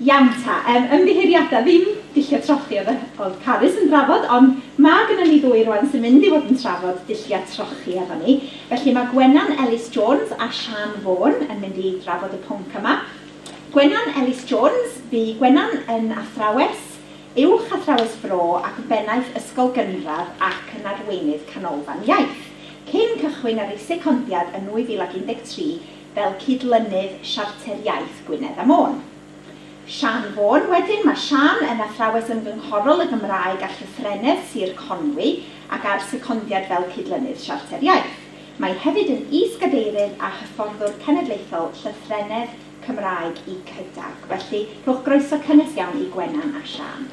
Iawn ta, yym ymddiheuriada, ddim dulliau trochi oedd yr oedd Carys yn drafod, ond ma' gynnon ni ddwy rwan sy'n mynd i fod yn trafod dulliau trochi efo ni. Felly ma' Gwenan Ellis Jones a Siân Vaughan yn mynd i drafod y pwnc yma. Gwenan Ellis Jones, bu Gwenan yn athrawes Uwch Athrawes Bro ac yn Bennaeth Ysgol Gynradd ac yn Arweinydd Canolfan Iaith, cyn cychwyn ar ei secondiad yn 2013 fel Cydlynydd Siarter Iaith Gwynedd a Môn. Siân Fôn Wedyn mae Siân yn Athrawes Ymgynghorol y Gymraeg a Llythrennedd Sir Conwy ac ar secondiad fel Cydlynydd Siarter Iaith. Mae hefyd yn Is-gadeirydd a Hyfforddwr Cenedlaethol Llythrennedd Cymraeg i Cydag. Felly, rhowch groeso cynnes iawn i Gwenan a Siân.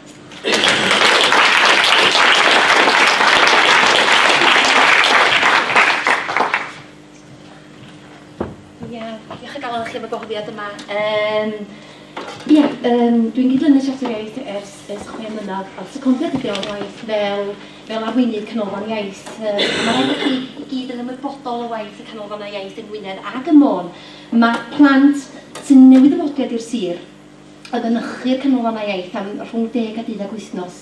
Ia, diolch o galon i chi am y gwahoddiad yma. Yym, ia, yym, dwi'n gyd-lynu y Siarter Iaith ers ers chwe mlynedd, a secondiad ydi o yn waith fel fel arweinydd Canolfan Iaith. Yy, a ma' raid i chi i gyd yn ymwybodol o waith y Canolfannau Iaith yng Ngwynedd ac ym Môn, Mae plant sy'n newydd-ddywodiad i'r sir yn mynychu'r Canolfannau Iaith am rhwng deg a deuddag wythnos,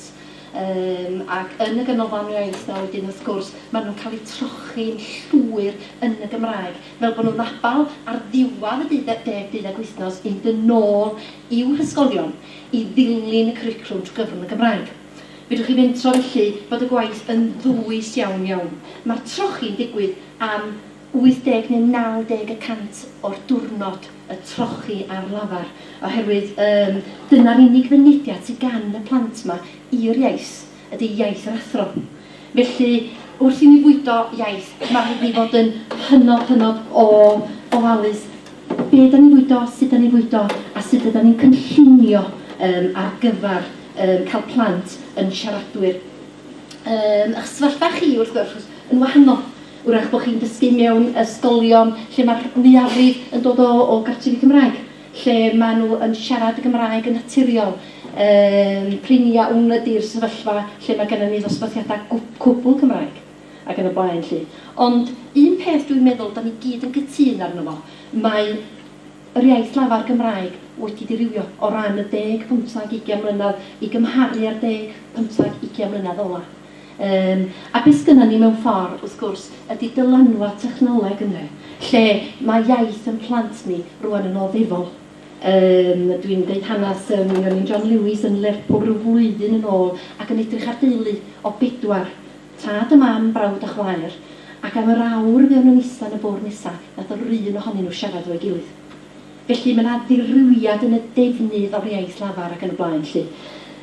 yym, ac yn y Ganolfan Iaith 'na wedyn, wrth gwrs, maen nhw'n cael eu trochi'n llwyr yn y Gymraeg, fel bod nhw'n abal ar ddiwedd y deud- deg, deuddag wythnos i fynd yn ôl i'w hysgolion i ddilyn y cwricwlwm trwy gyfrwng y Gymraeg. Fedrwch chi fentro, felly, bod y gwaith yn ddwys iawn, iawn. Mae'r trochi'n digwydd am 80 neu 90 y cant o'r diwrnod y trochi ar lafar, oherwydd yym dyna'r unig fynediad sy gan y plant 'ma i'r iaith, ydi iaith yr athro. Felly, wrth i ni fwydo iaith, ma' rhaid ni fod yn hynod, hynod o ofalus be' 'dan ni'n fwydo, sut 'dan ni'n fwydo, a sut ydan ni'n cynllunio yym ar gyfar yym ca'l plant yn siaradwyr. Yym, a'ch sefyllfa chi, wrth gwrs, yn wahanol. Wrach bod chi'n dysgu mewn ysgolion lle mae'r mwyafrif yn dod o o gartrefi Cymraeg, lle maen nhw yn siarad y Gymraeg yn naturiol. Yym, prin iawn ydy'r sefyllfa lle mae gennym ni ddosbarthiadau gw- cwbl Cymraeg ac yn y blaen 'lly. Ond un peth dwi'n meddwl dan ni gyd yn gytûn arno fo, mae yr iaith lafar Gymraeg wedi dirywio o ran y deg, pymthag, ugain mlynedd i gymharu â'r deg, pymthag, ugain mlynedd ola. Yym, a be sgynnon ni mewn ffor, wrth gwrs, ydi dylanwad technoleg ynde, lle ma' iaith yn plant ni rŵan yn oddefol. Yym, dwi'n deud hanas, yym, mi o'n i'n John Lewis yn Lerpwl ryw flwyddyn yn ôl ac yn edrych ar deulu o bedwar, tad a mam, brawd a chwaer, ac am yr awr fuon nhw'n ista yn y bwrdd nesa, nath yr un ohonyn nhw siarad efo'i gilydd. Felly, mae 'na ddirywiad yn y defnydd o'r iaith lafar ac yn y blaen 'lly.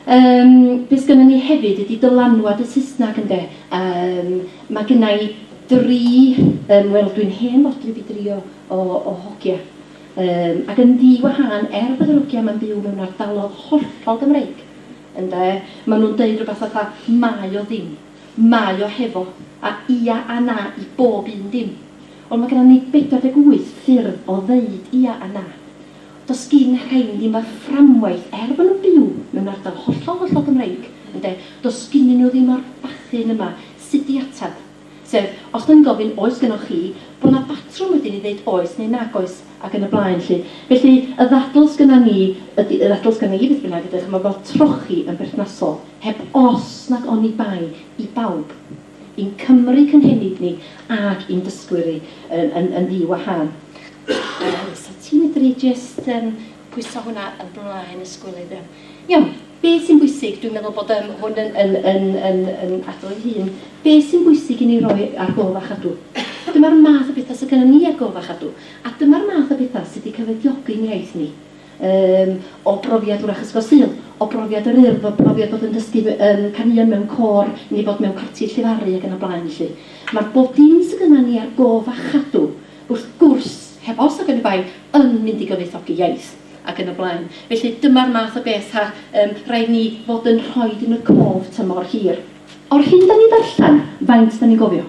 Yym, be sgynnon ni hefyd ydi dylanwad y Saesnag ynde. Yym, ma' gynna i dri, yym, wel dwi'n hen fodryb i dri o o o hogia. Yym, ac yn ddi-wahân, er bod yr hogia 'ma'n byw mewn ardalodd hollol Gymreig, ynde, ma' nhw'n deud rywbeth fatha 'mae o ddim', 'mae o hefo', a 'ia' a 'na' i bob un dim. Wel mae genna ni 48 ffyrdd o ddeud ia a na. Does gin rhein ddim yr fframwaith er bod nhw'n byw mewn ardal hollol hollol Gymreig ynde, does ginnyn nhw ddim yr bachyn yma sut i ateb. Sef, os dan ni'n gofyn oes gynnoch chi, bod yna batrwm wedyn i ddeud oes neu nag oes ac yn y blaen 'lly. Felly y ddadl sgynna ni ydi, y ddadl sgynna i beth bynnag ydi ch'mod fel trochi yn berthnasol, heb os nag oni bai i bawb. i'n Cymry cynhenid ni ac i'n dysgwyr i yn yn yn ddi wahân. Reit, so ti'n medru jyst yym pwyso hwnna yn blaen y sgwlydd iawn. Iawn, be sy'n bwysig, dwi'n meddwl bod yym hwn yn yn yn yn yn adrodd ei hun, be sy'n bwysig i ni roi ar gof a chadw? Dyma'r math o betha sy gynnon ni ar gof a chadw, a dyma'r math o betha sy 'di cyfoediogi'n iaith ni. Yym, o brofiad wrach Ysgol Sul, o brofiad yr Urdd, o brofiad bod yn dysgu m- yym caneuon mewn côr, neu fod mewn parti llefaru ac yn y blaen felly. Mae bob dim sydd gynna ni ar gof a chadw, wrth gwrs, heb os ac yn y baen, yn mynd i gyfoethogi iaith, ac yn y blaen. Felly, dyma'r math o beth a yym raid ni fod yn rhoid yn y cof tymor hir. O'r hyn 'da ni'n ddarllen, faint 'da ni'n gofio?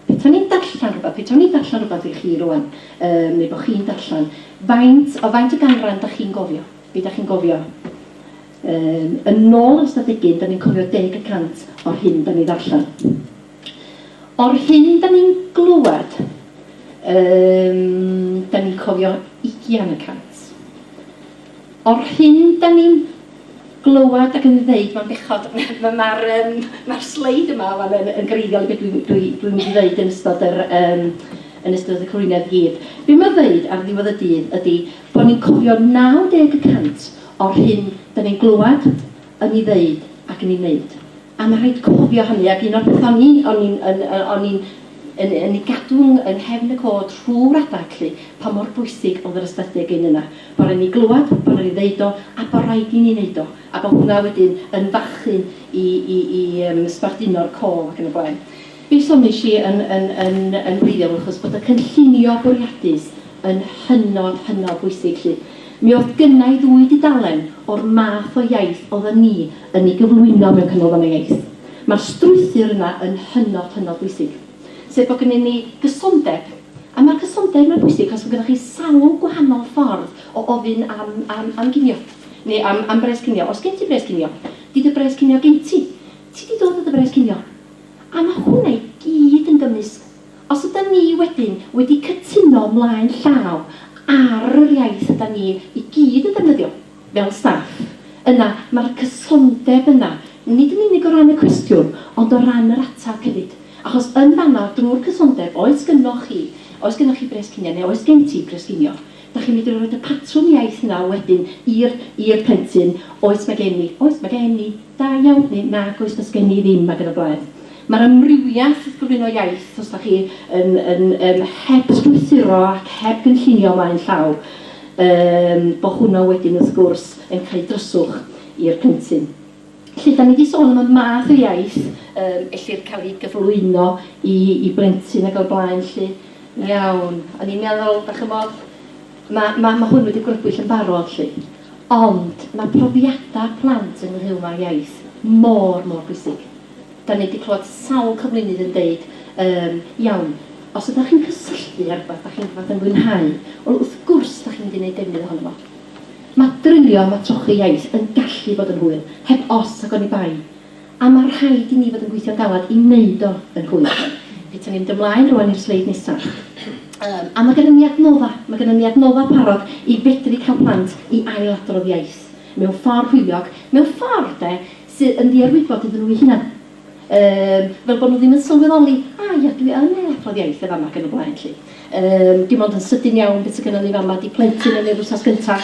Petawn i'n darllen rhywbeth, petawn i'n darllen rhywbeth i chi rŵan, yym, neu bod chi'n darllen, faint, o faint o ganran da chi'n gofio? Be da chi'n gofio? Yym, yn ôl yr Ystad Egin, da ni'n cofio deg y cant o'r hyn da ni'n ddarllen. O'r hyn da ni'n glywed, yym, da ni'n cofio ugian y cant. O'r hyn dan ni'n glywed ac yn ddeud, mae'n bechod, mae'r yym mae'r sleid yma wan yn yn greiddiol i be dwi'n dwi dwi'n mynd i ddeud yn ystod yr yym yn ystod y cyflwyniad i gyd. Be mae'n ddeud ar ddiwedd y dydd ydy bod ni'n cofio 90 y cant o'r hyn dan ni'n glywed, yn ei ddeud ac yn ei wneud. A mae'n rhaid cofio hynny, ac un o'r pethau o'n i'n o'n i'n yn yy o'n i'n yn yn ei gadw yng yng nghefn y côd rhw'r adeg 'lly, pa mor bwysig oedd yr ysbyty a gyn yna. Bod raid i ni glywed, bod raid i ni ddeud o, a bod raid i ni wneud o. A bod hwnna wedyn yn fachu i i i yym sbarduno'r cof ac yn y blaen. Be soniais i yn yn yn yn wreiddiol achos bod y cynllunio bwriadus yn hynod, hynod bwysig 'lly. Mi o'dd gynna i ddwy dudalen o'r math o iaith oddan ni yn ei gyflwyno mewn Canolfan y Iaith. Ma'r strwythur yna yn hynod, hynod bwysig. Sef bod gynnyn ni gysondeb. A ma'r cysondeb yma'n bwysig achos ma' gynnoch chi sawl gwahanol ffordd o ofyn am am am ginio. Neu am am bres cinio. Os gen ti bres cinio, 'di dy bres cinio gen ti. Ti 'di dod o dy bres cinio. A ma' hwnna i gyd yn gymwys Os ydan ni wedyn wedi cytuno mlaen llaw ar yr iaith ydan ni i gyd yn ddefnyddio, fel staff, yna ma'r cysondeb yna, nid yn unig o ran y cwestiwn, ond o ran yr ateb hefyd. Achos yn fan'na, drwy'r cysondeb, oes gynnoch chi, oes gynnoch chi bres cinio, neu oes gen ti bres cinio, Dach chi'n medru roid y patrwm iaith 'na wedyn i'r i'r plentyn, oes ma' gen i, oes ma' gen i, da iawn, neu nag oes does gen i ddim ag yn y blaen. Ma'r amrywiath wrth gyflwyno iaith os dach chi yn yn yym heb strwythuro ac heb gynllunio mlaen llaw yym bo' hwnna wedyn wrth gwrs yn cael ei dryswch i'r plentyn. Felly, dan ni wedi sôn am y math o iaith yym ellir cael ei gyflwyno i i blentyn ac o'r blaen 'lly. Iawn. O'n i'n meddwl, dach ch'mod, ma' ma' ma' hwn wedi grybwyll yn barod 'lly. Ond ma' profiadau plant ynghylch â iaith mor, mor bwysig. Dan ni wedi clywed sawl cyflwynydd yn deud yym, iawn, os ydach chi'n cysylltu â rhywbeth dach chi'n rhywbeth yn fwynhau, wel wrth gwrs dach chi'n mynd i wneud defnydd ohono fo. Mae drilio am y trochi iaith yn gallu bod yn hwyl, heb os ac oni bai, a mae rhaid i ni fod yn gweithio'n galed i wneud o yn hwyl. Petawn i'n mynd ymlaen rŵan i'r sleid nesaf. Yym, a mae gennym ni adnodda', mae gennym ni adnodda' parod i fedru cael plant i ail-adrodd iaith mewn ffordd hwyliog, mewn ffordd, 'de, sydd yn ddiarwybod iddyn nhw eu hunain. Yym, fel bod nhw ddim yn sylweddoli, a ia, dwi yn ei adrodd iaith yn fama ac yn y blaen 'lly. Yym, dim ond yn sydyn iawn be sy gynnon ni fama 'di plentyn yn yr wsnos gynta'.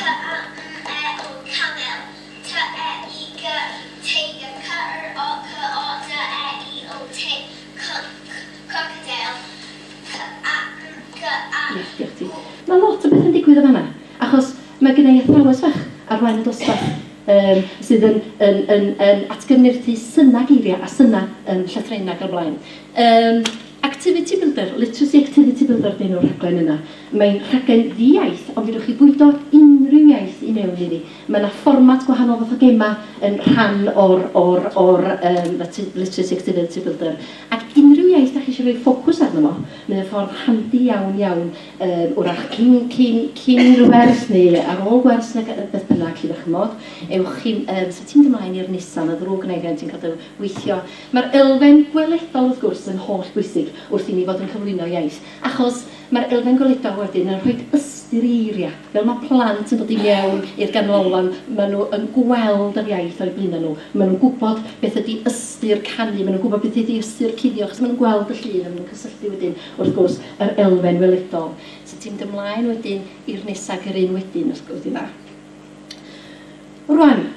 Ia, diolch ti. Ma' lot o bethe'n digwydd yn fana, achos, Mae gen i athrawes fach ar flaen y dosbarth yym sydd yn yn yn yn atgyfnerthu synau geiriau a synau yym llythrennau ac yn y blaen. Yym Activity Builder, Literacy Activity Builder ydy enw'r rhaglen yna. Mae'n rhaglen ddi-iaith ond fedrwch chi fwydo unrhyw iaith i mewn iddi. Mae yna fformat gwahanol fath o gemau yn rhan o'r o'r o'r yym Literacy Activity Builder ac unrhyw iaith dach chi eisiau rhoi ffocws arno fo, mae o'n ffordd handi iawn iawn Yym, wrach cyn, cyn, cyn i'r wers neu ar ôl gwers neu beth bynnag, 'lly 'dach ch'mod, ewch chi'n, yym, 'set ti'n mynd ymlaen i'r Nissan, mae'n ddrwg gynna i rhiant sy'n cadw weithio. Mae'r elfen gweledol, wrth gwrs, yn holl bwysig wrth i ni fod yn cyflwyno iaith, achos mae'r elfen gweledol wedyn yn rhoid ystyr i eiriau. Fel mae plant yn dod i mewn i'r ganolfan, maen nhw yn gweld yr iaith o'u blaenau nhw, maen nhw'n gwybod beth ydy ystyr canu, maen nhw'n gwybod beth ydy ystyr cuddio, achos maen nhw'n gweld y llun a maen nhw'n cysylltu wedyn. wrth gwrs, yr elfen weledol. So ti'n mynd ymlaen wedyn i'r nesa ac yr un wedyn, os gwelwch chi'n dda. Rwan,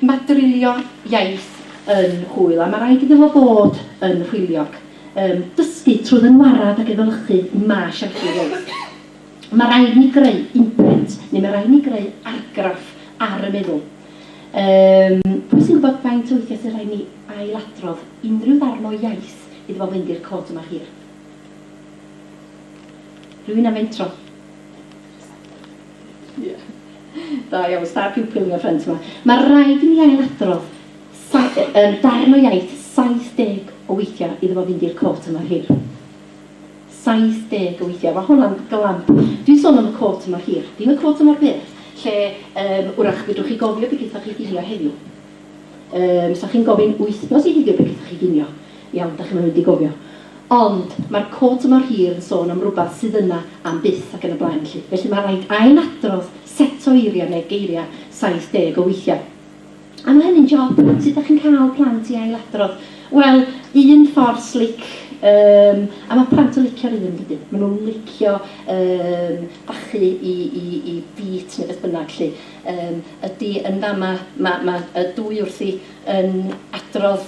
mae drilio iaith yn hwyl a mae rhaid iddo fo fod yn hwyliog. Um, dysgu trwy ddynwarad ac efelychu mae siaradu iaith. Mae rhaid ni greu imprint, neu mae rhaid ni greu argraff ar y meddwl. Um, pwy sy'n gwybod faint o weithiau sy'n rhaid ni ailadrodd unrhyw ddarn o iaith iddo fo fynd i'r cod yma hir? Rwy'n am mentro. Ie. Da iawn, star pupil yn y ffrynt 'ma. Mae rhaid i mi ailadrodd yn darn o iaith 70 o weithiau iddo fo fynd i'r cot yma hir. 70 o weithiau. Mae honna'n glamp. Dwi'n sôn am y cot mor hir, dim y cot mor byr, lle yym wrach fedrwch chi gofio be gaethoch chi ginio heddiw. Yym, 'sa chi'n gofyn wythnos i heddiw be gaethoch chi ginio. Iawn, dach chi'm yn mynd i gofio. Ond mae'r quote mor hir yn sôn am rywbeth sydd yna am byth ac yn y blaen 'lly. Felly mae'n rhaid ail-adrodd set o eiriau neu geiriau 70 o weithiau. A mae hynny'n job, yn dwyt? Sut dach chi'n cael plant i ail-adrodd? Wel, un ffordd slic, yym, a mae plant yn licio'r un, yn dydyn? Maen nhw'n licio, yym, bachu i, i, i beat neu beth bynnag 'lly, yym, ydy yn fama, mae, mae y dwy wrthi yn adrodd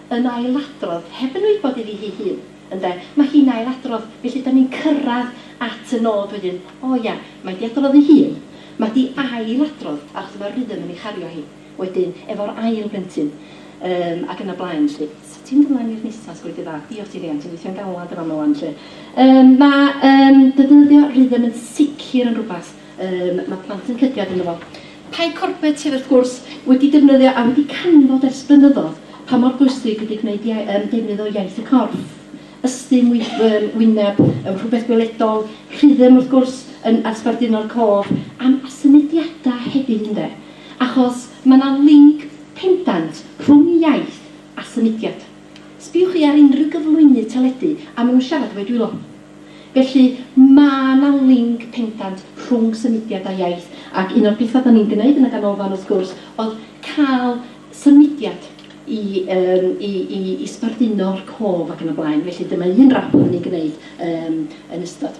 yn ailadrodd, heb yn wybod iddi hi hun, ynde, mae hi'n ailadrodd, felly 'dan ni'n cyrraedd at y nod wedyn, o ia, mae 'di adrodd ei hun, mae 'di ailadrodd, achos mae'r rhythm yn ei chario hi, wedyn, efo'r ail blentyn, yym, ac yn y blaen 'lly. So ti'n mynd ymlaen i'r nesa, sgweli di dda, diolch ti Rhian, ti'n gweithio'n galad yn fama 'wan 'lly. Yym, mae yym defnyddio rhythm yn sicr yn rywbeth, Yym, mae plant yn cydiad ynddo fo. Pie corbett sydd, wrth gwrs, wedi defnyddio a wedi canfod ers blynyddoedd pa mor bwysig ydy gwneud iau- yym defnydd o iaith y corff. Ystum, wy- yym wyneb, yym rhywbeth gweledol, rhythm, wrth gwrs, yn a sbarduno'r côr, am a symudiadau hefyd, ynde? Achos mae 'na linc pendant rhwng iaith a symudiad. Sbïwch chi ar unrhyw gyflwynydd teledu a maen nhw'n siarad efo'u dwylo. Felly, mae 'na linc pendant rhwng symudiad a iaith, ac un o'r pethau dan ni'n gwneud yn y Ganolfan wrth gwrs oedd cael symudiad i yym i i i sbarduno'r cof ac yn y blaen, felly dyma un rap oedden ni'n gwneud yym yn ystod.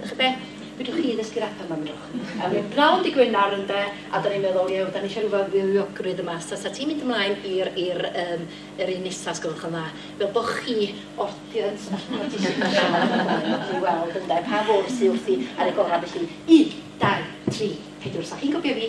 Dach be? Fedrwch chi ddysgu rap am amdrwch. A mae'n bnawn dy Gwenar ynde, a da ni'n meddwl iew, da ni eisiau rhyw fywiogrwydd yma, so sa ti'n mynd ymlaen i'r i'r yym yr un nesa os gwelwch yn dda, fel bo chi orthiant a ch'mod ti isio siarad amdano fo i weld ynde pa fwrdd sy wrthi ar y gora felly, un, dau, tri, pedwr, so chi'n copio fi,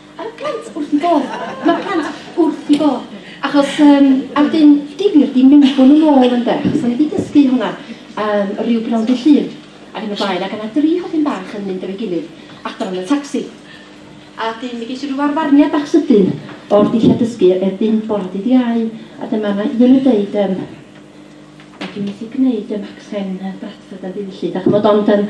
Ar y plant wrth 'i bodd. Mae'r plant wrth 'i bodd. Achos, um, a wedyn, difyr di mewnbwn yn ôl ynde, achos o'n i wedi dysgu hwnna um, rhyw bnawn dy llun ac yn y blaen, ac yna dri hodyn bach yn mynd efo'i gilydd adran y tacsi. A dyn, mi geisio rhyw arfarniad bach sydyn o'r dillad dysgu erbyn bora dydd Iau, a dyma yna un yn deud, um, a dwi'n methu gwneud um, accent Bradford yn ddiwyllu, da chymod, ond um,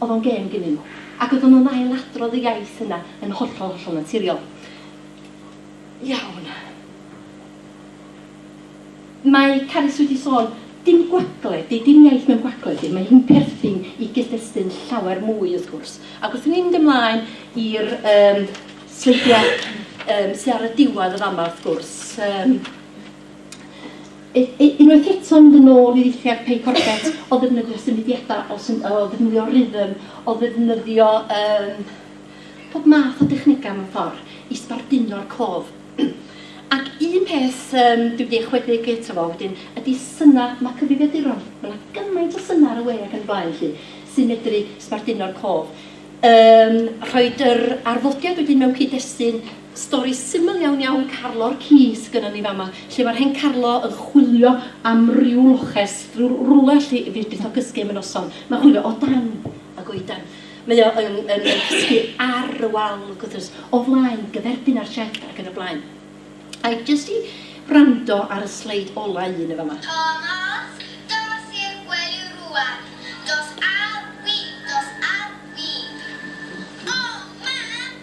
Oedd o'n gêm gynnyn nhw. Ac oedden nhw'n ail-adrodd y iaith yna yn hollol, hollol naturiol. Iawn. Mae Carys wedi sôn, dim gwagle 'di, dim iaith mewn gwagle 'di, mae hi'n perthyn i gyd-destun llawer mwy wrth gwrs. Ac wrth i ni fynd ymlaen i'r yym sleidiau yym sy ar y diwedd yn fama wrth gwrs, yym, Unwaith eto mynd yn ôl i ddulliau'r pei corbett o ddefnyddio symudiadau, o sym- o ddefnyddio rhythm, o ddefnyddio yym pob math o dechnegau mewn ffordd i sbarduno'r cof. Ac un peth yym dwi wedi ychwedeg eto fo wedyn ydy synau, mae cyfrifiaduron, ma' 'na gymaint o synau ar y we ac yn y blaen 'lly sy'n medru sbarduno'r cof. Yym rhoid yr arddodiad wedyn mewn cyd-destun Stori syml iawn iawn Carlo'r ci sgynnon ni fama. Lle ma'r hen Carlo yn chwilio am ryw loches, ryw rwle allu fydd byth o gysgu am y noson. Ma'n chwilio o dan y goedan. Mae o yn yn yn cysgu ar y wal wrth gwrs, o flaen gyferbyn a'r sied ac yn y blaen. Ai jyst i wrando ar y sleid ola un yn fama. Tomos, dos i'r gwely rŵan. Dos â fi, dos â fi. O mam!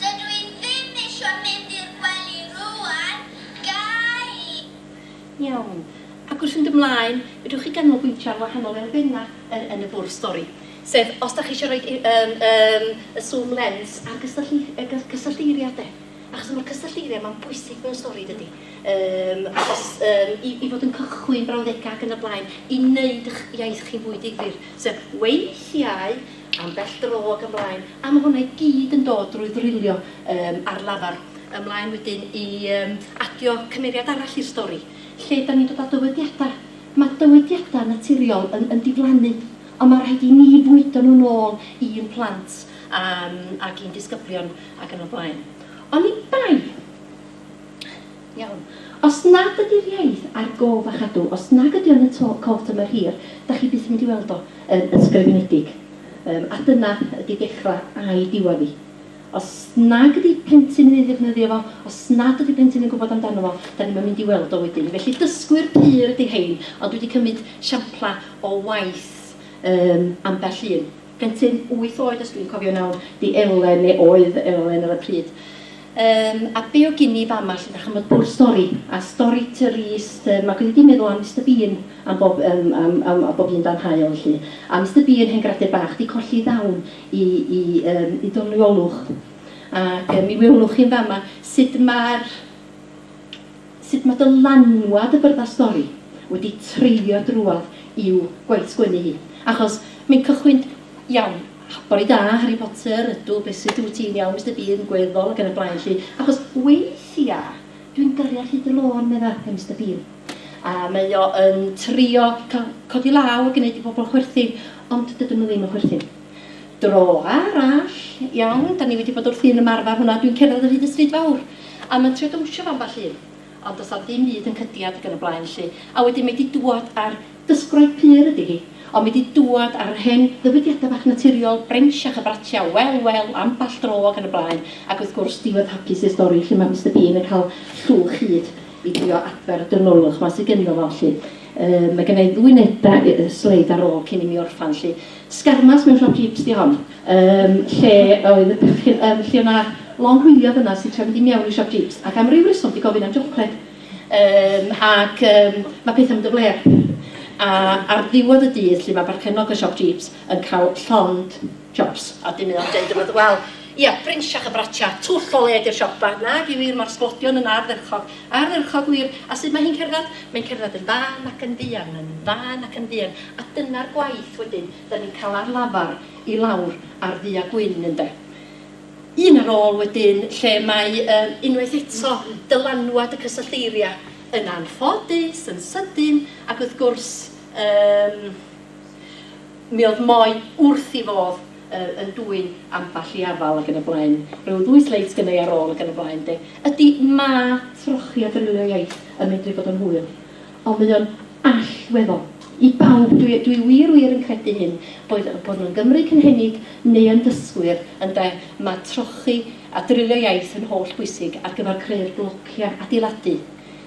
Dydw i ddim isio mynd i'r gwely rŵan, gai? Iawn. Ac wrth fynd ymlaen, fedrwch chi ganolbwyntio ar wahanol elfennau yn yn y bwrdd stori. Sef, os dach chi eisiau rhoi y yym yym y swm lens ar gystyllu- y gy- cysyllteiriau de. Achos mae'r cysyllteiriau 'ma'n bwysig mewn stori dydi? Yym achos yym i i fod yn cychwyn brawddegau ac yn y blaen, i wneud y'ch iaith chi'n fwy difyr. Sef, weithiau ambell dro ac ymlaen, a ma' hwnna i gyd yn dod drwy ddrilio yym ar lafar. Ymlaen wedyn i yym adio cymeriad arall i'r stori, lle 'dan ni'n dod â dywediada'. Ma' dywediada' naturiol yn yn diflannu, ond ma' rhaid i ni fwydo nhw'n ôl i'n plant a'n ac i'n disgyblion ac yn y blaen. Oni bai! Iawn. Os nad ydy'r iaith ar gof a chadw, os nag ydy o yn y to- cof tymor hir, dach chi byth yn mynd i weld o yn ysgrifenedig. Yym, a dyna ydy dechra a'i diwadd hi. Os nag ydy plentyn yn ei ddefnyddio fo, os nad ydy plentyn yn gwbod amdano fo, dan ni'm yn mynd i weld o wedyn. Felly dysgwyr pur ydy rhein, ond dwi 'di cymyd siampla o waith yym ambell un. Plentyn wyth oed os dwi'n cofio nawr, di Elen, neu oedd Elen ar y pryd. Yym, a be o gin i fama 'lly, dach ch'mod, bwrdd stori, a stori Tŷ Rhys, yym, ac oedd hi di meddwl am Mister Bean am bob yym am am am bob un dan haul 'lly. A Mister Bean, hen gradur bach, di colli i ddawn i i yym i doniolwch. Ac yym mi welwch chi'n fama sud ma'r sut mae dylanwad y byrddau stori wedi treiddio drwodd i'w gwaith sgwennu hi. Achos mae'n cychwyn, iawn, bore da, Harry Potter, ydw, beth sut wyt ti'n iawn, Mister Bean, gweddol, ac yn y blaen 'lly. Achos weithia, dwi'n gyrru ar hyd y lôn, medda, mae Mister Bean. A mae o yn trio cael codi law a gwneud i bobl chwerthin, ond dydyn nhw ddim yn chwerthin. Dro arall, iawn, dan ni wedi bod wrthi'n ymarfer hwnna, dwi'n cerdded o hyd y stryd fawr, a mae'n trio dawnsio efo ambell un, ond does na'm dim byd yn cydiad ac yn y blaen 'lly. A wedyn mae 'di dŵad a'r, dysgwraig pur ydi hi, ond mae 'di dŵad a'r hen ddywediadau bach naturiol, Brenshach a Bratia, wel, wel, ambell dro ac yn y blaen, ac wrth gwrs, Duw oedd hapus i'r stori lle mae Mister Bean yn cael llwch hud i drio adfer y dynolwch 'ma sy gynno fo 'lly. Yy, mae gynna i ddwy neu dair sleid ar ôl cyn i mi orffan 'lly. Sgarmes mewn siop jeeps 'di hon yym lle oedd y bechgyn yym lle o'na long hwyliog yna sy'n trio mynd i mewn i siop jeeps ac am ryw reswm 'di gofyn am jocled yym ac yym ma' pethau'n mynd yn flêr a ar ddiwedd y dydd 'lly ma' barchennog y siop jeeps yn cael llond jobs a wedyn mae o'n deud wrth y wel Ia, brinsach y bratia, twll o led i'r siopa, nag yw wir mor sglodion yn ardderchog, ardderchog wir, a sut mae hi'n cerdded? Mae'n cerdded yn fân ac yn fuan, yn fân ac yn fuan, a dyna'r gwaith wedyn, 'dan ni'n cael ar lafar i lawr ar ddu a gwyn, ynde? Un ar ôl wedyn, lle mae, yy, unwaith eto, dylanwad y cysyllteiria yn anffodus, yn sydyn, ac wrth gwrs, yym, Mi oedd Moe wrth i fodd yy yn dwyn ambell i afal ac yn y blaen. Rhyw ddwy sleid sgynna i ar ôl ac yn y blaen de. Ydy, mae trochi a defnyddio iaith yn medru bod yn hwyl. Ond mae o'n allweddol. I bawb, dwi dwi wir wir yn credu hyn, boed bod nhw'n Gymry cynhenid neu yn ddysgwyr, ynde, mae trochi a defnyddio iaith yn holl bwysig ar gyfer creu'r blociau adeiladu.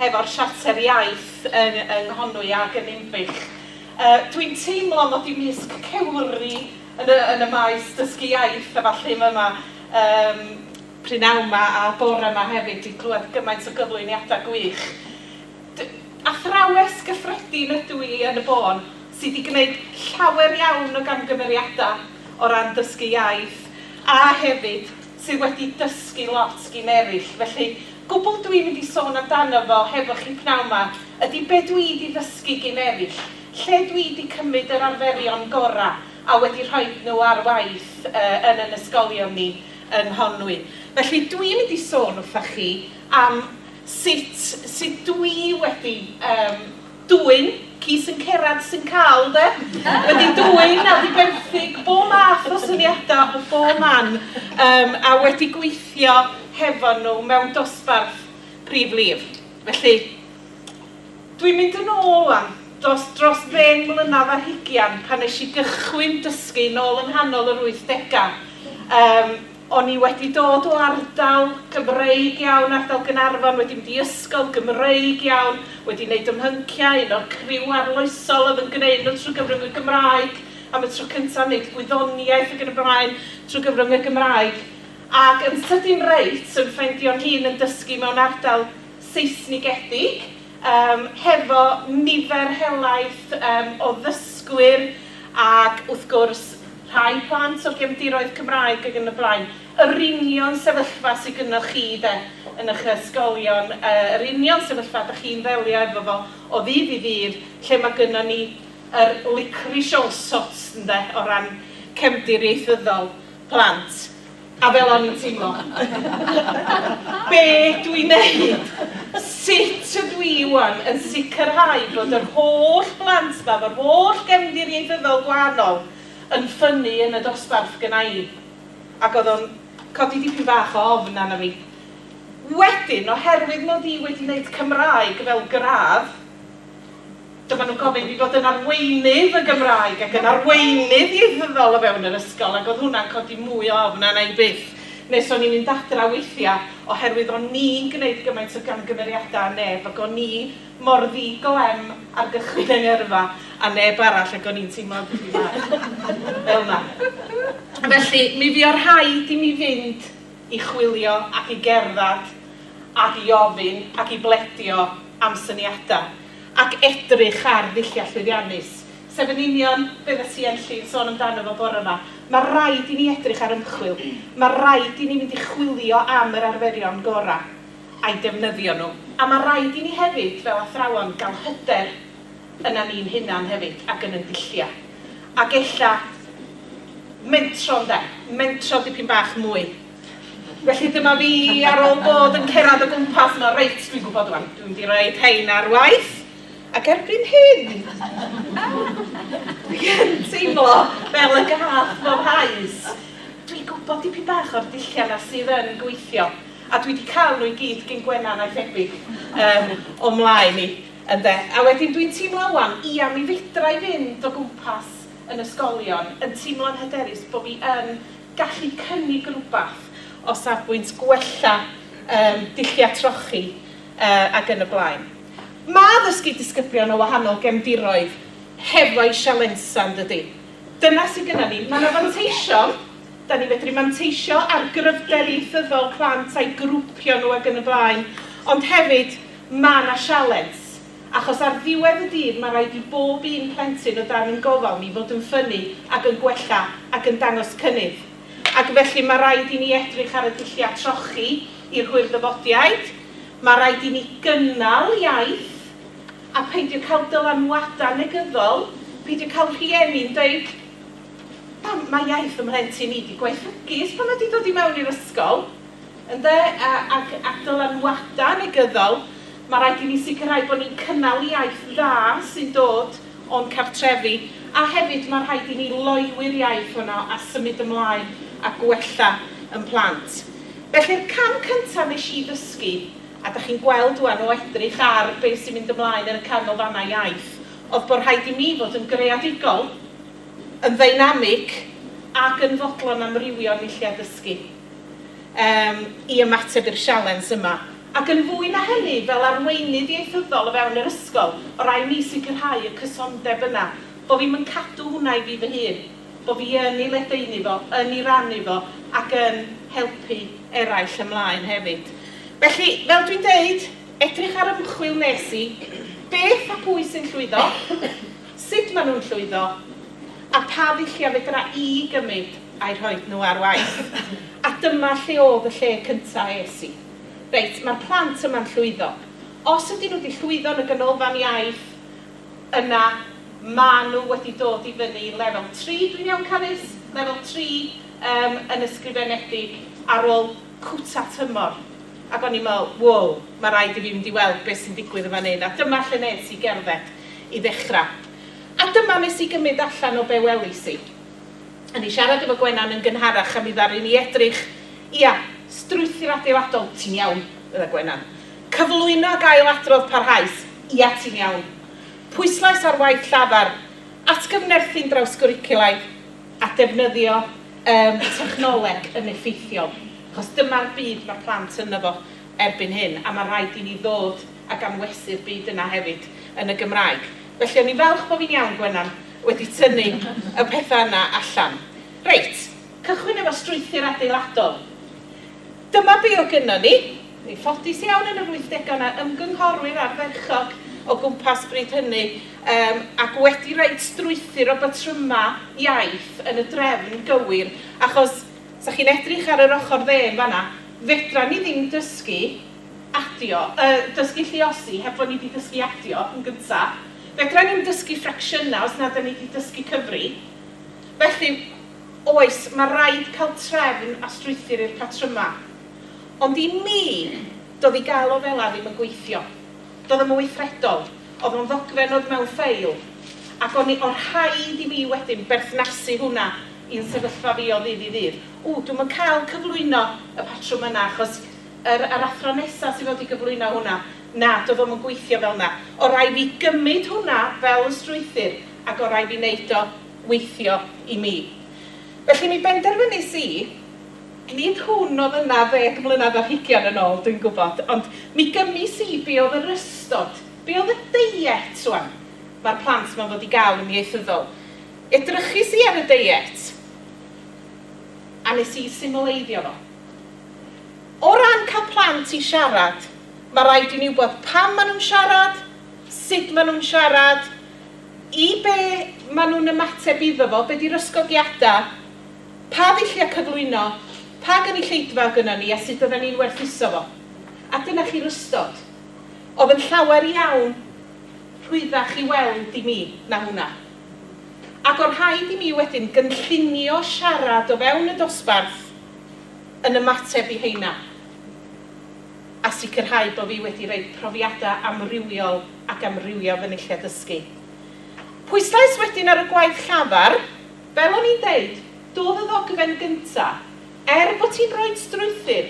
hefo'r Siarter Iaith yng yng Nghonwy ac yn Ninbych. Yy dwi'n teimlo mod i misg cewri yn y yn y maes dysgu iaith a ballu ma' ma' yym prynawn ma' a bore ma' hefyd di clywed gymaint o gyflwyniada gwych. D- athrawes gyffredin ydw i yn y bôn sy di gneud llawer iawn o gamgymeriada o ran dysgu iaith a hefyd sydd wedi dysgu lot gin eraill, felly gwbl dw i'n mynd i sôn amdano fo hefo chi pnawn 'ma ydi be dw i 'di ddysgu gin eraill, lle dw i 'di cymryd yr arferion gorau a wedi rhoid nhw ar waith yn yn ysgolion ni yng Nghonwy. Felly dw i'n mynd i sôn wrthoch chi am sut sut dw i wedi yym Dwyn, ci sy'n cerad sy'n cael, de? Wedi dwyn a diberthig bob math o syniadau o bob man um, a wedi gweithio hefo nhw mewn dosbarth prif lif. Felly, dwi'n mynd yn ôl wan, dros, dros ddeng mlynedd ar hugian pan nes i gychwyn dysgu nôl yng nghanol yr wythdegau. Um, O'n i wedi dod o ardal Gymreig iawn, ardal Gaernarfon, wedi mynd i ysgol Gymreig iawn, wedi wneud ym mhynciau, un o'r criw arloesol oedd yn gwneud nhw trwy gyfrwng y Gymraeg am y tro cyntaf, wneud gwyddoniaeth ac yn y blaen trwy gyfrwng y Gymraeg, ac yn sydyn reit yn ffeindio'n hun yn dysgu mewn ardal Seisnigedig, yym, hefo nifer helaeth yym o ddysgwyr ac wrth gwrs, Rhai plant o gefndiroedd Cymraeg ac yn y blaen. Yr union sefyllfa sy gynnoch chi de, yn ych ysgolion, yr union sefyllfa dych chi'n ddelio efo fo o ddydd i ddydd, lle mae gynnon ni yr licorice all sorts ynde, o ran cefndir ieithyddol plant. A fel o'n i'n teimlo. Be dw i'n neud? Sut ydw i ŵan yn sicrhau bod yr holl blant 'ma, fy holl gefndir ieithyddol gwahanol, yn ffynnu yn y dosbarth gynna i? Ac oedd o'n codi dipyn bach o ofn arna fi. Wedyn, oherwydd mod i wedi neud Cymraeg fel gradd, Dyma nhw'n gofyn fi fod yn arweinydd y Gymraeg ac yn arweinydd ieithyddol o fewn yr ysgol ac oedd hwnna'n codi mwy o ofn arna i byth. Nes o'n i'n mynd adra weithiau oherwydd o'n ni'n gwneud gymaint o gamgymeriadau a neb ac o'n i mor ddi glem ar gychwyn yng ngyrfa a neb arall ac o'n i'n teimlo dipyn bach fel 'na. Felly mi fuodd rhaid i mi fynd i chwilio ac i gerdded ac i ofyn ac i bledio am syniadau. ac edrych ar ddulliau llwyddiannus, sef yn union beth o't ti Enlli yn sôn amdano fo bore 'ma. Mae rhaid i ni edrych ar ymchwil, mae rhaid i ni fynd i chwilio am yr arferion gorau a'i defnyddio nhw, a mae rhaid i ni hefyd, fel athrawon, gael hyder yna ni'n hunan hefyd ac yn ein dulliau, ac ella mentro ynde, mentro dipyn bach mwy. Felly dyma fi ar ôl bod yn cerad o gwmpas yma, reit, dwi'n gwybod rwan, dwi'n mynd i roed hein ar waith, ac erbyn hyn, dwi yn teimlo fel y gath bob haes. Dwi'n gwybod dipyn bach o'r dulliau yna sydd yn gweithio, a dwi wedi cael nhw i gyd gyn Gwennan a'i thebyg um, o mlaen i, ynde. A wedyn dwi'n teimlo wan, ia, mi fedra i fynd o gwmpas yn ysgolion, yn teimlo'n hyderus bod fi yn gallu cynnig rhywbeth o safbwynt gwella yym dulliau trochi yy ac yn y blaen. Ma' dysgu disgyblion o wahanol gefndiroedd hefo'i sialensau yn dydi? Dyna sydd gynna ni. Mae yna fanteision, dan ni'n medru manteisio ar gryfder ieithyddol plant a'i grwpio nhw ac yn y blaen, ond hefyd ma' yna sialens. achos ar ddiwedd y dydd mae rhaid i bob un plentyn o dan ein gofal ni fod yn ffynnu ac yn gwella ac yn dangos cynnydd. Ac felly mae rhaid i ni edrych ar y dulliau trochi i'r hwyrddyfodiaid, mae rhaid i ni gynnal iaith a peidio cael dylanwadau negyddol, peidio cael rhieni'n deud Pam, mae iaith fy mhlentyn i 'di gwaethygu ers pan mae 'di dod i mewn i'r ysgol. Ynde, ac ac dylanwadau negyddol, mae rhaid i ni sicrhau bod ni'n cynnal iaith dda sy'n dod o'n cartrefi, a hefyd mae rhaid i ni loywi'r iaith honno a symud ymlaen a gwella yn plant. Felly'r cam cyntaf wnes i ddysgu, a da chi'n gweld ŵan o edrych ar be sy'n mynd ymlaen yn y Canolfannau Iaith, oedd bod rhaid i mi fod yn greadigol, yn ddeinamig ac yn fodlon amrywio yn nulliau dysgu. um, i ymateb i'r sialens yma. Ac yn fwy na hynny, fel arweinydd ieithyddol o fewn yr ysgol, o rai mi sicrhau y cysondeb yna, bo fi'm yn cadw hwnna i fi fy hun, bo fi yn ei ledaenu fo, yn ei rannu fo, ac yn helpu eraill ymlaen hefyd. Felly, fel dwi'n deud, edrych ar ymchwil nes i, beth a pwy sy'n llwyddo, sut maen nhw'n llwyddo, a pha ddulliau fedra i gymryd a'u rhoi nhw ar waith. A dyma lle oedd y lle cyntaf es i. Reit, mae'r plant yma'n llwyddo. Os ydyn nhw 'di llwyddo yn y Ganolfan Iaith, yna maen nhw wedi dod i fyny i lefel tri, dwi'n iawn Carys? lefel tri yym yn ysgrifenedig ar ôl cwta tymor. Ac o'n i'n meddwl, wow, mae rhaid i fi fynd i weld beth sy'n digwydd yn fan hyn. A dyma lle wnes i gerdded. i ddechrau. A dyma wnes i gymryd allan o be welis i. O'n i'n siarad efo Gwenan yn gynharach a mi ddaru ni edrych, ia, strwythur adeiladol, ti'n iawn, fydda Gwenan. Cyflwyno ac ail-adrodd parhaus, ia ti'n iawn. Pwyslais ar waith llafar, atgyfnerthu'n drawsgwricwlaidd, a defnyddio yym technoleg yn effeithiol, achos dyma'r byd mae plant ynddo fo. erbyn hyn, a mae rhaid i ni ddod ag anwesu'r byd yna hefyd yn y Gymraeg. Felly o'n i'n falch bo fi'n iawn, Gwenan, wedi tynnu y pethau yna allan. Reit, cychwyn efo strwythur adeiladol. Dyma be o gynnon ni. Yn ffodus iawn yn yr wythdegau o 'na ymgynghorwyr ardderchog o gwmpas bryd hynny yym ac wedi roid strwythur o batrymau iaith yn y drefn gywir achos Sa chi'n edrych ar yr ochr dde yn fan'na, fedran ni ddim dysgu adio, yy, dysgu lluosi heb fod ni 'di dysgu adio yn gynta'. Fedran ni'm dysgu ffracsiynau os nad 'dan ni 'di dysgu cyfri'. Felly, oes, ma' raid cael trefn a strwythur i'r patrymau. Ond i mi, doedd i gael o fela ddim yn gweithio. Doedd o'm yn weithredol. Oedd o'n ddogfen oedd mewn ffeil. Ac o'n i, o' rhaid i mi wedyn berthnasu hwnna. i'n sefyllfa fi o ddydd i ddydd. Ww, dwi'm yn cael cyflwyno y patrwm yna achos yr yr athro nesa sydd fod i gyflwyno hwnna, na, do'dd o'm yn gweithio fel 'na. Orau fi gymyd hwnna fel y strwythur ac orau fi neud o weithio i mi. Felly mi benderfynis i, nid hwn o'dd yna ddeg mlynadd ar hugian yn ôl, dwi'n gwbod, ond mi gymis i be o'dd yr ystod, be o'dd y deiet rwan ma'r plant 'ma'n fod i ga'l yn ieithyddol. Edrychis i ar y deiet a nes i symleiddio fo. O ran cael plant i siarad, mae rhaid i ni wybod pam maen nhw'n siarad, sut maen nhw'n siarad, i be maen nhw'n ymateb iddo fo, be 'di'r ysgogiadau, pa ddulliau cyflwyno, pa gynulleidfa oedd gynnon ni a sut oedden ni'n werthuso fo. A dyna chi'r ystod. Oedd yn llawer iawn rhwyddach i weld i mi na hwnna. Ac o'n rhaid i mi wedyn gynllunio siarad o fewn y dosbarth yn ymateb i heina, a sicrhau bo' fi wedi rhoi profiada' amrywiol ac amrywio fy nulliau dysgu. Pwyslais wedyn ar y gwaith llafar. Fel o'n i'n deud, do'dd y ddogfen gynta', er bo' ti'n rhoid strwythur,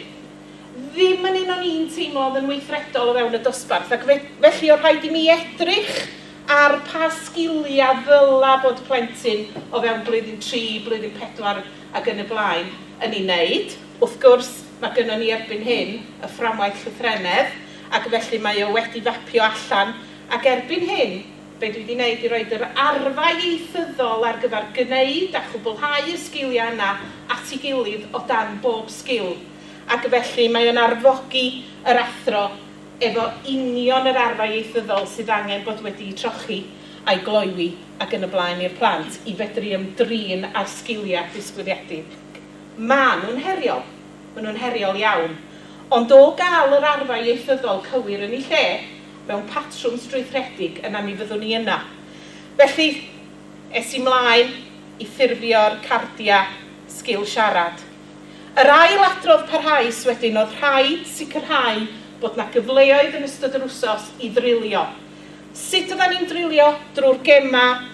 ddim yn un o'n i'n teimlo o'dd yn weithredol o fewn y dosbarth, ac fe- felly o' rhaid i mi edrych Ar pa sgiliau ddyla bod plentyn o fewn blwyddyn tri, blwyddyn pedwar ac yn y blaen yn ei wneud? Wrth gwrs, mae gynnon ni erbyn hyn y fframwaith llythrennedd, ac felly mae o wedi fapio allan, ac erbyn hyn, be dwi 'di wneud i roid yr arfau ieithyddol ar gyfer gwneud a chwblhau y sgiliau yna at ei gilydd o dan bob sgil, ac felly mae o'n arfogi yr athro efo union yr arfau ieithyddol sydd angen bod wedi'u trochi a'i gloywi ac yn y blaen i'r plant i fedru ymdrin â'r sgiliau disgwyliedig. Maen nhw'n heriol, maen nhw'n heriol iawn, ond o gael yr arfau ieithyddol cywir yn eu lle mewn patrwm strwythuredig yna mi fyddwn ni yna. Felly, es i 'mlaen i ffurfio'r cardiau sgil siarad. Yr ail adrodd parhaus wedyn oedd rhaid sicrhau bod 'na gyfleoedd yn ystod yr wsos i ddrilio. Sut oeddan ni'n drilio? Drwy'r gemau,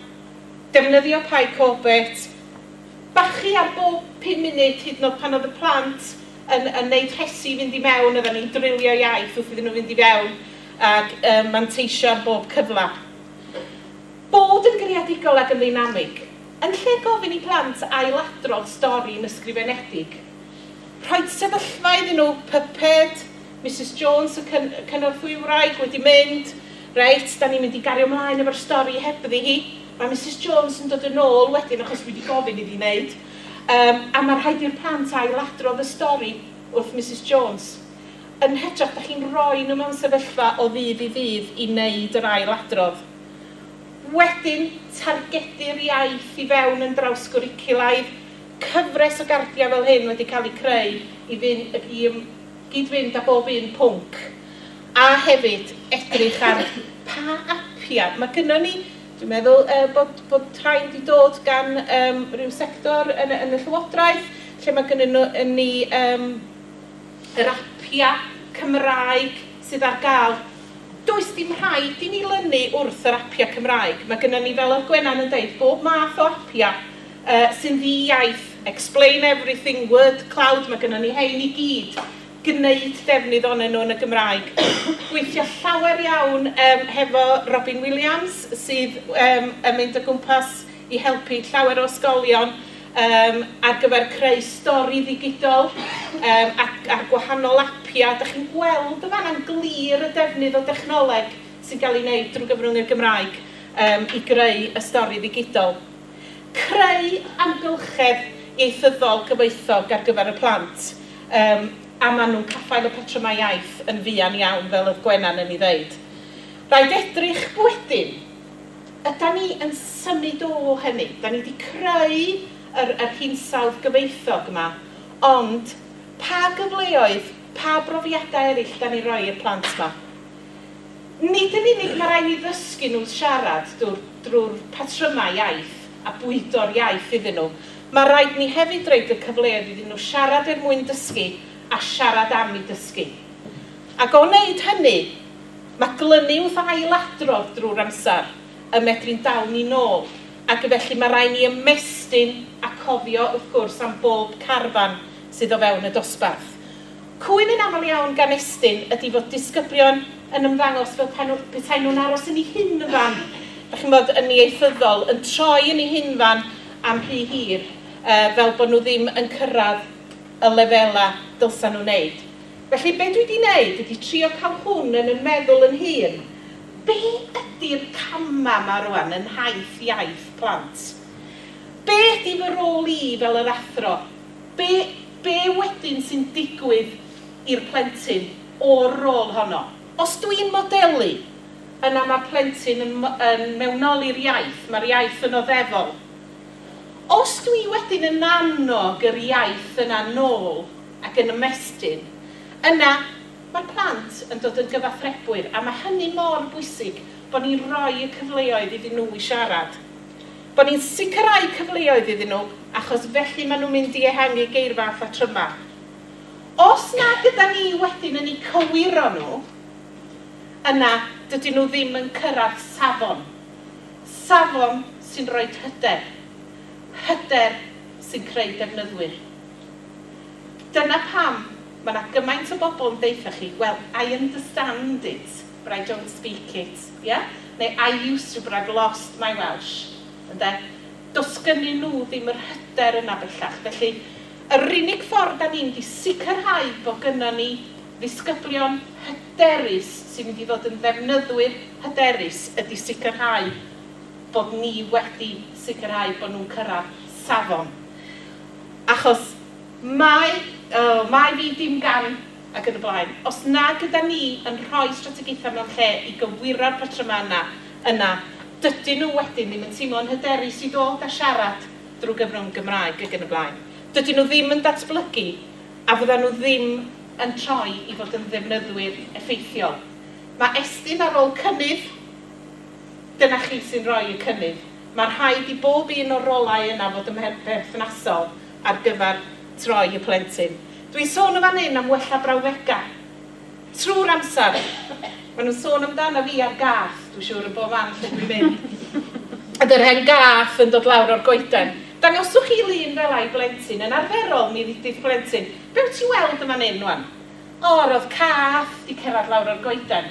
defnyddio Py Corbett, bachu ar bob pum munud hyd yn oed pan oedd y plant yn yn neud rhesi i fynd i mewn oeddan ni'n drilio iaith wrth iddyn nhw fynd i fewn ac yy manteisio ar bob cyfle. Bod yn greadigol ac yn ddeinamig, yn lle gofyn i blant ailadrodd stori yn ysgrifenedig. Rhoid sefyllfa iddyn nhw, pyped, Misus Jones y cyn- cynorthwywraig wedi mynd, reit, da ni'n mynd i gario mlaen efo'r stori hebddi hi, mae Misus Jones yn dod yn ôl wedyn achos dwi 'di gofyn iddi wneud, yym, a mae rhaid i'r plant ailadrodd y stori wrth Misus Jones. Yn hytrach, da chi'n rhoi nhw mewn sefyllfa o ddydd i ddydd i wneud yr ailadrodd. Wedyn, targedu'r iaith i fewn yn drawsgwricwlaidd, cyfres o gardiau fel hyn wedi cael eu creu i fynd, i ym, gyd-fynd â bob un pwnc, a hefyd edrych ar pa apiau, mae gynnon ni, dwi'n meddwl yy bod bod rhain wedi dod gan yym ryw sector yn y yn y Llywodraeth, lle mae gynnon ni yym yr apiau Cymraeg, sydd ar gael. Does dim rhaid i ni lynu wrth yr apiau Cymraeg. Mae gynnon ni, fel oedd Gwenan yn deud, bob math o apiau yy sy'n ddi-iaith, Explain Everything, Word Cloud, mae gynnon ni hein i gyd. Gwneud defnydd ohonyn nhw yn y Gymraeg. Gweithio llawer iawn yym hefo Robin Williams sydd yym yn mynd o gwmpas i helpu llawer o ysgolion. Yym, ar gyfer creu stori ddigidol, yym, ac a'r gwahanol apiau. Dach chi'n gweld yn fan'na yn glir y defnydd o dechnoleg sy'n cael ei wneud drwy gyfrwng y Gymraeg yym i greu y stori ddigidol. Creu amgylchedd ieithyddol gyfoethog ar gyfer y plant, yym, a maen nhw'n caffael y patrymau iaith yn fuan iawn, fel oedd Gwenan yn ei ddeud. Rhaid edrych wedyn, Ydan ni yn symud o hynny? Dan ni 'di creu yr yr hinsawdd gyfoethog 'ma, ond pa gyfleoedd, pa brofiadau eraill 'dan ni'n rhoi i'r plant 'ma? Nid yn unig ma' raid ni ddysgu nhw siarad drw'r drw'r patrymau iaith a bwydo'r iaith iddyn nhw, ma' raid ni hefyd roid y cyfleoedd iddyn nhw siarad er mwyn dysgu a siarad am 'u dysgu. Ac o wneud hynny, Mae glynu wrth ailadrodd drwy'r amser yn medru'n dal ni'n ôl, ac felly mae rhaid ni ymestyn a cofio wrth gwrs am bob carfan sydd o fewn y dosbarth. Cwyn yn aml iawn gan Estyn ydi fod disgyblion yn ymddangos fel pe nhw, petai nhw'n aros yn eu hunfan, dach chi'n bod, yn ieithyddol, yn troi yn eu hunfan am rhy hir, fel bod nhw ddim yn cyrraedd y lefelau dylsa nhw wneud. Felly be dwi 'di neud ydi trio cael hwn yn 'y meddwl yn hun, be ydi'r cama' 'ma rwan yn nhaith iaith plant? Be ydi fy rôl i fel yr athro? Be be wedyn sy'n digwydd i'r plentyn o'r rôl honno? Os dwi'n modelu, yna ma'r plentyn yn yn mewnoli'r iaith, ma'r iaith yn oddefol. Os dwi wedyn yn annog yr iaith yna nôl ac yn ymestyn, yna mae'r plant yn dod yn gyfathrebwyr a mae hynny mor bwysig bod ni'n rhoi y cyfleoedd iddyn nhw i siarad. Bod ni'n sicrhau cyfleoedd iddyn nhw achos felly maen nhw'n mynd i ehangu geirfa a phatrymau. Os na gyda ni wedyn yn eu cywiro nhw, yna dydyn nhw ddim yn cyrraedd safon, safon sy'n rhoi hyder, hyder sy'n creu defnyddwyr. Dyna pam mae 'na gymaint o bobl yn deutha chi, well, I understand it, but I don't speak it, ie? Neu I used to, but I've lost my Welsh, ynde? Does gynnyn nhw ddim yr hyder yna bellach. Felly, yr unig ffordd 'da ni'n mynd i sicrhau bod gynnon ni ddisgyblion hyderus sy'n mynd i ddod yn ddefnyddwyr hyderus ydi sicrhau bod ni wedi sicrhau bod nhw'n cyrraedd safon. Achos mae, oh, mae fi dim gan ac yn y blaen. Os nag ydan ni yn rhoi strategaethau mewn lle i gywiro'r patrymau yna, yna dydyn nhw wedyn ddim yn teimlo'n hyderus i ddod a siarad drwy gyfrwng Gymraeg ac yn y blaen. Dydyn nhw ddim yn datblygu a fyddan nhw ddim yn troi i fod yn ddefnyddwyr effeithiol. Mae Estyn ar ôl cynnydd. Dyna chi sy'n rhoi y cynnydd. Mae rhaid i bob un o'r rolau yna fod yn berthnasol ar gyfer troi y plentyn. Dwi'n sôn yn fan hyn am wella brawddegau. Trwy'r amser, maen nhw'n sôn amdana fi a'r gath, dwi'n siŵr yn bob man lle dwi'n mynd. Ydy'r hen gath yn dod lawr o'r goeden. Dangoswch chi lun fel 'a i blentyn. Yn arferol, mi ddudith plentyn, 'Be wyt ti'n weld yn fan hyn 'wan? O, roedd cath 'di cerdded lawr o'r goeden.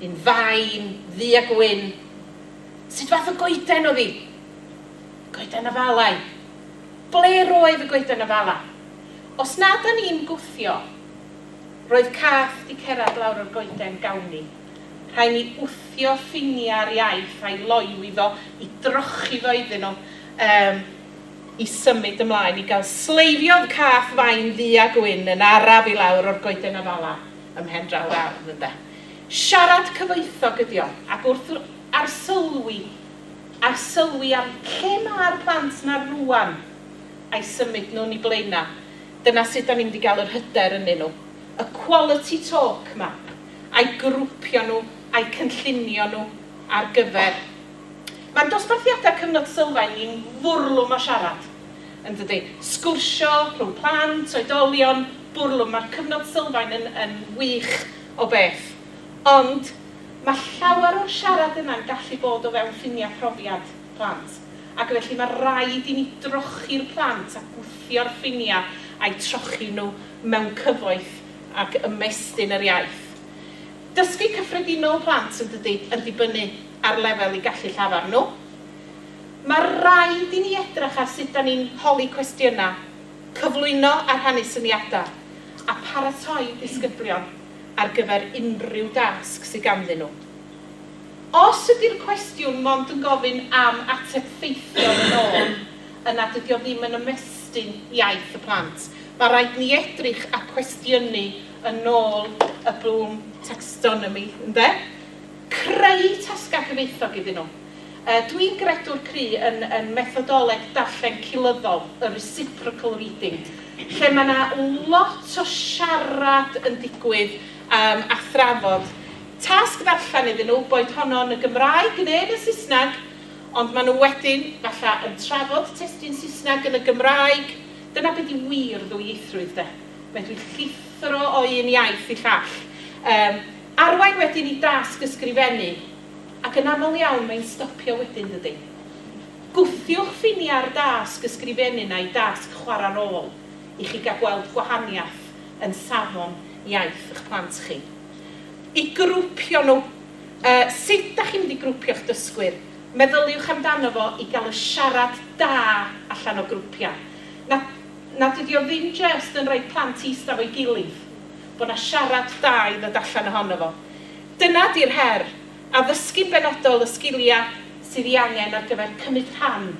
Yn fain, ddu a gwyn. Sut fath o goeden oedd hi? Goeden afalau. Ble roedd y goeden afala? Os na 'da ni'n gwthio. Roedd cath 'di cerad lawr o'r goeden gawn ni. Rhai ni wthio ffinia ar iaith a'i loyw iddo, i drochi fo iddyn nhw, yym, i symud ymlaen i gael sleifio oedd cath fain ddu a gwyn yn araf i lawr o'r goeden afala. ym mhen draw'r ardd, ynde? Siarad cyfoethog ydi o, ac wrth arsylwi, arsylwi am lle ma'r plant 'na rŵan, a'i symud nhw'n i Blaenau, dyna sut 'dan ni'n mynd i gael yr hyder ynnyn nhw. Y quality talk 'ma, a'u grwpio nhw, a'u cynllunio nhw ar gyfer. Ma'n dosbarthiadau Cyfnod Sylfaen ni'n fwrlwm o siarad. Yndydi? Sgwrsio rhwng plant, oedolion, bwrlwm, mae'r cyfnod sylfaen yn, yn wych o beth. Ond mae llawer o'r siarad yna'n gallu bod o fewn ffiniau profiad plant. Ac felly mae raid i ni drochi'r plant a gwthio'r ffiniau a'u trochi nhw mewn cyfoeth ac ymestyn yr iaith. Dysgu cyffredinol plant, yndydi, yn dibynnu ar lefel eu gallu llafar nhw. Mae rhaid i ni edrych ar sut 'da ni'n holi cwestiynau, cyflwyno a rhannu syniadau, a pharatoi disgyblion ar gyfer unrhyw dasg sydd ganddyn nhw. Os ydy'r cwestiwn mond yn gofyn am ateb ffeithiol yn ôl, yna dydy o ddim yn ymestyn iaith y plant. Mae rhaid ni edrych ar cwestiynu yn ôl y Bloom Taxonomy, ynde? Creu tasgau cyfoethog iddyn nhw. Dw i'n gredu'r cru yn yn methodoleg darllen culyddol, y reciprocal reading, lle mae yna lot o siarad yn digwydd yym a thrafod. Tasg ddarllen iddyn nhw, boed honno yn y Gymraeg neu yn y Saesneg, ond maen nhw wedyn, falle, yn trafod testun Saesneg yn y Gymraeg. Dyna be di wir ddwyieithrwydd de. Medru llithro o un iaith i llall. Yym, arwain wedyn i dasg ysgrifennu. Ac yn aml iawn mae'n stopio wedyn, dydi? Gwthiwch ffiniau'r dasg ysgrifennu na'i dasg chwarae rôl i chi gael gweld gwahaniaeth yn safon iaith eich plant chi. I grwpio nhw. Yy, sut dach chi'n mynd i grwpio'ch dysgwyr? Meddyliwch amdano fo i gael y siarad da allan o grwpiau. Na, na, dydi o ddim jyst yn rhoi plant i ista 'fo'i gilydd, bod 'na siarad da i ddod allan ohono fo. Dyna 'di'r her, addysgu'n benodol y sgiliau sydd ei angen ar gyfer cymryd rhan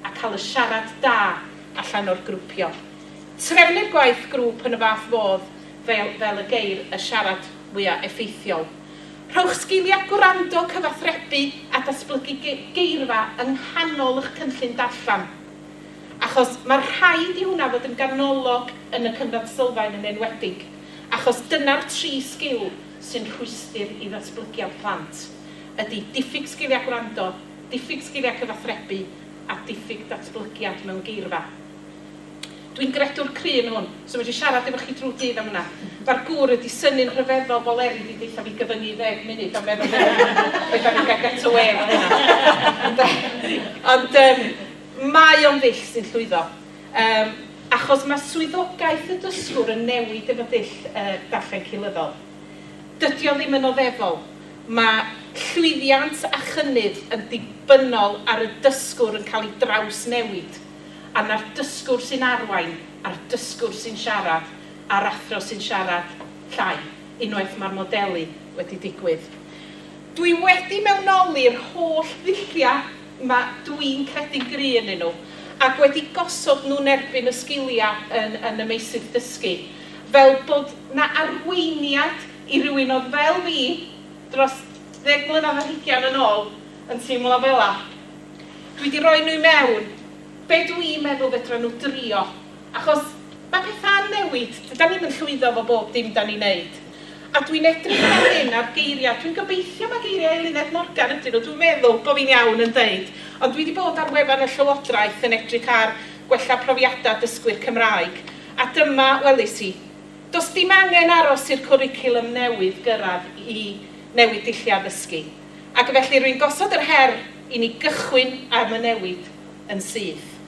a cael y siarad da allan o'r grwpio. Trefnu'r gwaith grŵp yn y fath fodd fel fel y geir y siarad fwya' effeithiol. Rhowch sgiliau gwrando, cyfathrebu a datblygu geirfa yng nghanol y'ch cynllun darllen. Achos mae rhaid i hwnna fod yn ganolog yn y cyfnod sylfaen yn enwedig achos dyna'r tri sgil sy'n rhwystr i ddatblygiad plant ydy diffyg sgiliau gwrando, diffyg sgiliau cyfathrebu a diffyg datblygiad mewn geirfa. Dwi'n gredwr cry yn hwn, so fedri siarad efo chi drw'r dydd am hwnna. Mae'r gŵr wedi synnu'n rhyfeddol fo leri di deutha fi gyfyngu i ddeg munud a meddwl be da ni'n cael get away efo hynna. Ond yym mae o'n ddull sy'n llwyddo. Yym, achos mae swyddogaeth y dysgwr yn newid efo dull y darllen cynyddol. Dydy o ddim yn oddefol. Mae llwyddiant a chynnydd yn dibynnol ar y dysgwr yn cael ei drawsnewid, a 'na'r dysgwr sy'n arwain, a'r dysgwr sy'n siarad, a'r athro sy'n siarad llai, unwaith mae'r modelu wedi digwydd. Dwi wedi mewnoli'r holl ddulliau Mae, dw i'n credu'n gry' ynnyn nhw, ac wedi gosod nhw yn erbyn y sgiliau yn yn y meysydd dysgu, fel bod 'na arweiniad i rywun oedd fel fi dros ddeg mlynedd ar hugain yn ôl yn teimlo fela. Dwi 'di rhoi nhw i mewn, be' dw i'n meddwl fedra nhw drio Achos mae pethau'n newid, dydan ni'm yn llwyddo efo bob dim 'dan ni'n neud. A dwi'n edrych ar hyn a'r geiriau, dwi'n gobeithio mai geiriau Eluned Morgan ydyn nhw, dwi'n meddwl bo' fi'n iawn yn deud, ond dwi 'di bod ar wefan y Llywodraeth yn edrych ar gwella profiadau dysgwyr Cymraeg, a dyma welis i, Does dim angen aros i'r cwricwlwm newydd gyrraedd i newid dulliau addysgu. Ac felly rwy'n gosod yr her i ni gychwyn am y newid yn syth.